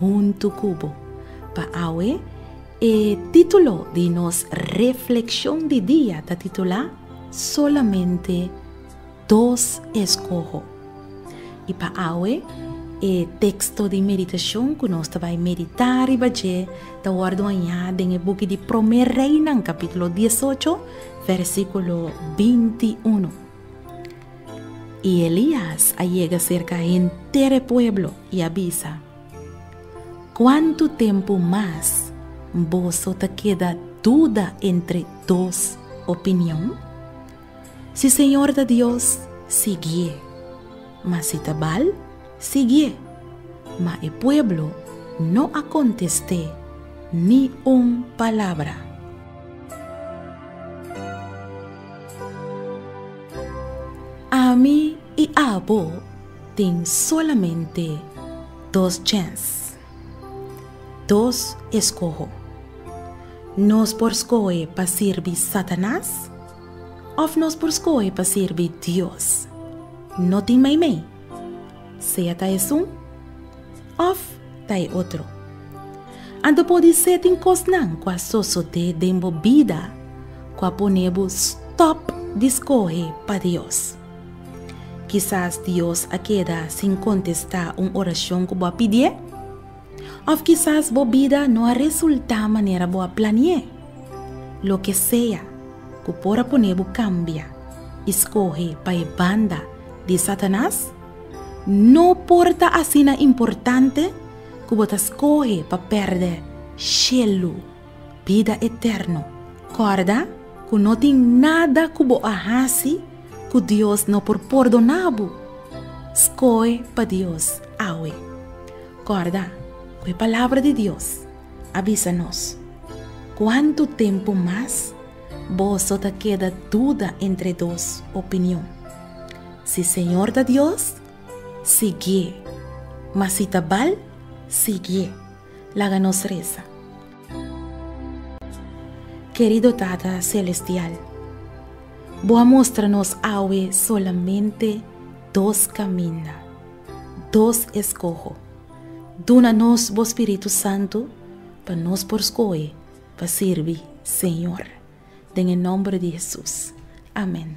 huntu ku bo. Pa awe e título di nos reflekshon di dia ta titulá Solamente dos escojo. I pa awe e teksto di meditashon ku nos ta bai meditá riba dje ta wòrdu hañá den e buki di Promé Reinan kapítulo dies ocho, vèrsikulo binti unu. I Elias a yega serka henter e pueblo i a bisa, Kuantu tempu mas boso ta keda duda entre dos opinion? Si Señor ta Dios, siguié, ma si ta Baal, siguié. Ma e pueblo no a kontest'é ni un palabra. Ami i abo tin solamente dos chèns, dos eskoho. Nos por skohe pa sirbi Satanas òf nos por skohe pa sirbi Dios. No tin meimei. Sea ta esun, Òf ta e otro? Anto por di sey tin kosnan ku a sosodé den bo bida ku a pone bo stòp di skohe pa Dios? Kisas Dios a keda sin kontestá un orashon ku bo a pidié? Òf kisas bo bida no a resultá manera bo a planié? Loke sea ku por a pone bo kambia i skohe pa e banda di Satanas, No por ta asina importante ku bo ta skohe pa pèrdè shelu, bida eterno. Kòrda ku no tin nada ku bo a hasi ku Dios no por pordoná bo. Skohe pa Dios awe. Kòrda ku e Palabra di Dios a bisa nos, Kuantu tempu mas boso ta keda duda entre dos opinion? Si Señor ta Dios, siguié. Mas si ta Baal, siguié. Laga nos resa. Kerido Tata Selestial, Bo a mostra nos awe solamente dos kaminda, dos eskoho. Duna nos Bo Spiritu Santu pa nos por skohe pa sirbi, Señor. Den e nòmber di Hesus. Amèn.